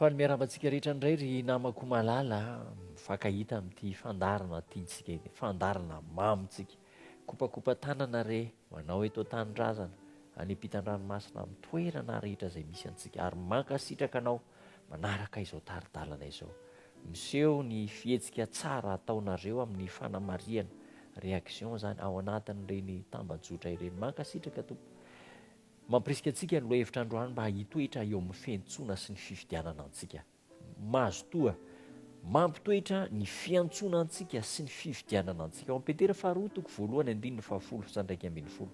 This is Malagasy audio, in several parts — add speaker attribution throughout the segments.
Speaker 1: Faly miarahaba antsika rehetra indray ry namako malala a! Mifankahita amin'ity fandaharana tiantsika ity, fandaharana mamintsika. Kopakopa tanana re ho anao eto an-tanindrazana, any ampitan-dranomasina, amin'ny toerana rehetra izay misy antsika. Ary mankasitraka anao manaraka izao tari-dalana izao. Miseho ny fihetsika tsara ataonareo amin'ny fanamarihana, réaction, izany ao anatin'ireny tambajotra ireny. Mankasitraka tompoko. Mampirisika antsika ny lohahevitra androany mba hitoetra eo amin'ny fiantsoana sy ny fifidianana antsika. Mazotoa mampitoetra ny fiantsoana antsika sy ny fifidianana antsika ao amin'ny Petera faharoa toko voalohany andininy fahafolo sy andraika ambin'ny folo.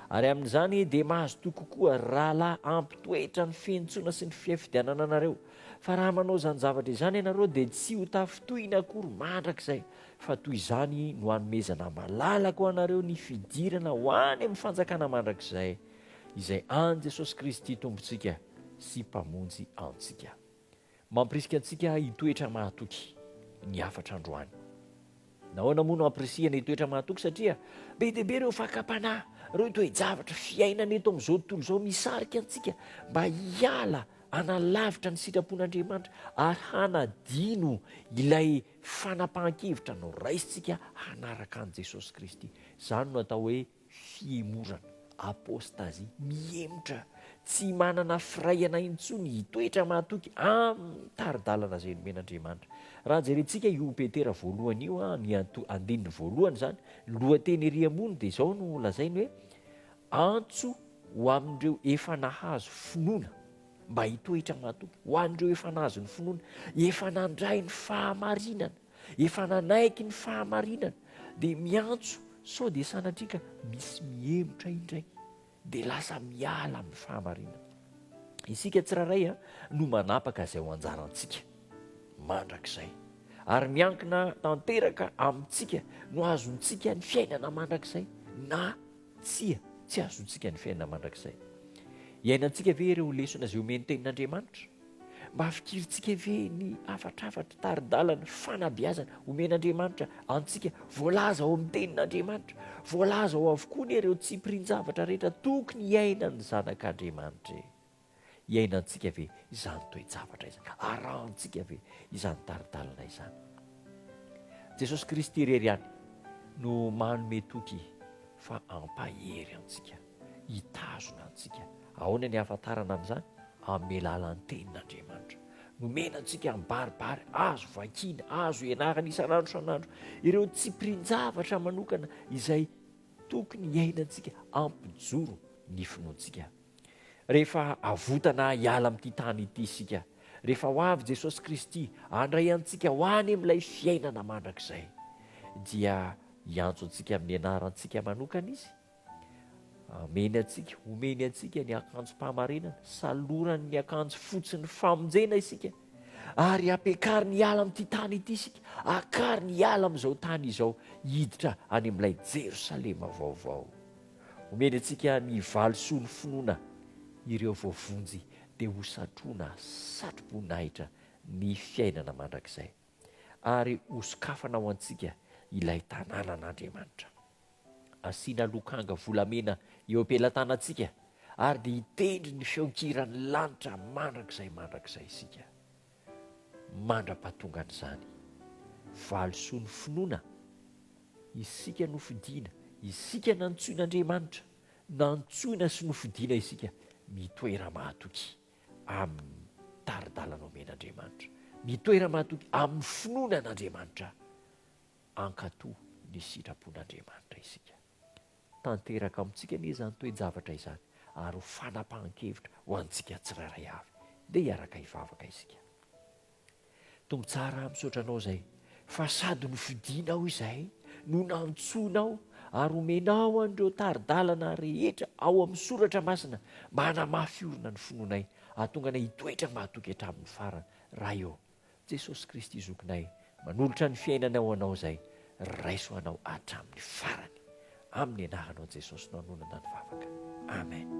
Speaker 1: Ary amin'izany dia mazotoa kokoa rahalahy hampitoetra ny fiantsoana sy ny fiafidianana anareo. Fa raha manao izany zavatra izany ianareo dia tsy ho tafintohina akory mandrakizay Fa toy izany no hanomezana malalaka ho anareo ny fidirana ho any amin'ny fanjakana mandrakizay, izay an'i Jesosy Kristy Tompontsika sy Mpamonjy antsika. Mampirisika antsika hitoetra mahatoky ny hafatra androany. Nahoana moa no ampirisihana hitoetra mahatoky? Satria be dia be ireo fakam-panahy, ireo toe-javatra fiainana eto amin'izao tontolo izao misarika antsika mba hiala hanalavitra ny sitrapon'Andriamanitra ary hanadino ilay Fanapahan-kevitra no raisintsika hanaraka an'i Jesosy Kristy. Izany no atao hoe fihemorana, apostasie, mihemotra, tsy manana firaihana intsony hitoetra mahatoky amin'ny tari-dalana izay nomen'Andriamanitra. Raha jerentsika io Petera voalohany io, ny andininy voalohany izany, ny lohateny ery ambony dia izao no lazainy hoe, Antso ho amin'ireo efa nahazo finoana. mba hitoetra matoky ho an'ireo efa nahazo ny finoana, efa nandray ny fahamarinana, efa nanaiky ny fahamarinana, dia miantso sao dia sanatria ka misy mihemotra indray, dia lasa miala amin'ny fahamarinana. Isika tsirairay a, no manapaka izay ho anjarantsika mandrakizay. Ary miankina tanteraka amintsika no azontsika ny fiainana mandrakizay na Tsia, tsy azontsika ny fiainana mandrakizay. Iainantsika ve ireo lesona izay omen'ny Tenin'Andriamanitra? Mba fikirintsika ve ny hafatrafatra, tari-dalana, fanabeazana omen'Andriamanitra antsika, voalaza ao amin'ny Tenin'Andriamanitra? Voalaza ao avokoa anie ireo tsipirian-javatra rehetra tokony hiainan'ny zanak'Andriamanitra e! Iainantsika ve izany toe-javatra izany? Arahantsika ve izany tari-dalana izany? Jesosy Kristy irery ihany no manome toky fa hampahery antsika, hitazona antsika. Ahoana ny ahafantarana an'izany? Amin'ny alalan'ny Tenin'Andriamanitra. Nomena antsika mibaribary, azo vakina, azo ianarana isan'andro isan'andro ireo tsipirian-javatra manokana izay tokony hiainantsika hampijoro ny finoantsika Rehefa avotana hiala amin'ity tany ity isika, rehefa ho avy Jesosy Kristy handray antsika ho any amin'ilay fiainana mandrakizay, dia hiantso antsika amin'ny anarantsika manokana Izy. Ameny antsika, omeny antsika ny akanjom-pahamarinana, salorany ny akanjo fotsin'ny famonjena isika, ary ampiakariny hiala amin'ity tany ity isika, akariny hiala amin'izao tany izao, hiditra any amin'ilay Jerosalema vaovao. Omeny antsika ny valisoa ny finoana ireo voavonjy dia ho satrona satro-boninahitra ny fiainana mandrakizay ary ho sokafana ho antsika ilay tanànan'Andriamanitra. Asiana lokanga volamena eo am-pelatanantsika ary dia hitendry ny feon-kiran'ny lanitra mandrakizay mandrakizay isika. mandra-pahatongan'izany valisoa ny finoana, isika nofidina, isika nantsoin'Andriamanitra, nantsoina sy nofidina isika mitoera mahatoky amin'ny tari-dalana omen'Andriamanitra, mitoera mahatoky amin'ny finoana an'Andriamanitra, ankato ny sitrapon'Andriamanitra isika. tanteraka amintsika anie izany toe-javatra izany ary ho fanapahan-kevitra ho antsika tsirairay avy. Ndeha hiaraka hivavaka isika. Tompo tsara, misaotra Anao izay fa sady nofidinao izahay no nantsoinao ary omenao an'ireo tari-dalana rehetra ao amin'ny soratra masina mba hanamafy orina ny finoanay hahatonga anay hitoetra mahatoky hatramin'ny farany. Ray ô! Jesosy Kristy Zokinay manolotra ny fiainany ho Anao izay, raiso Anao hatramin'ny farany. Amin'ny Anaranao Jesosy no anonana ny vavaka. Amen.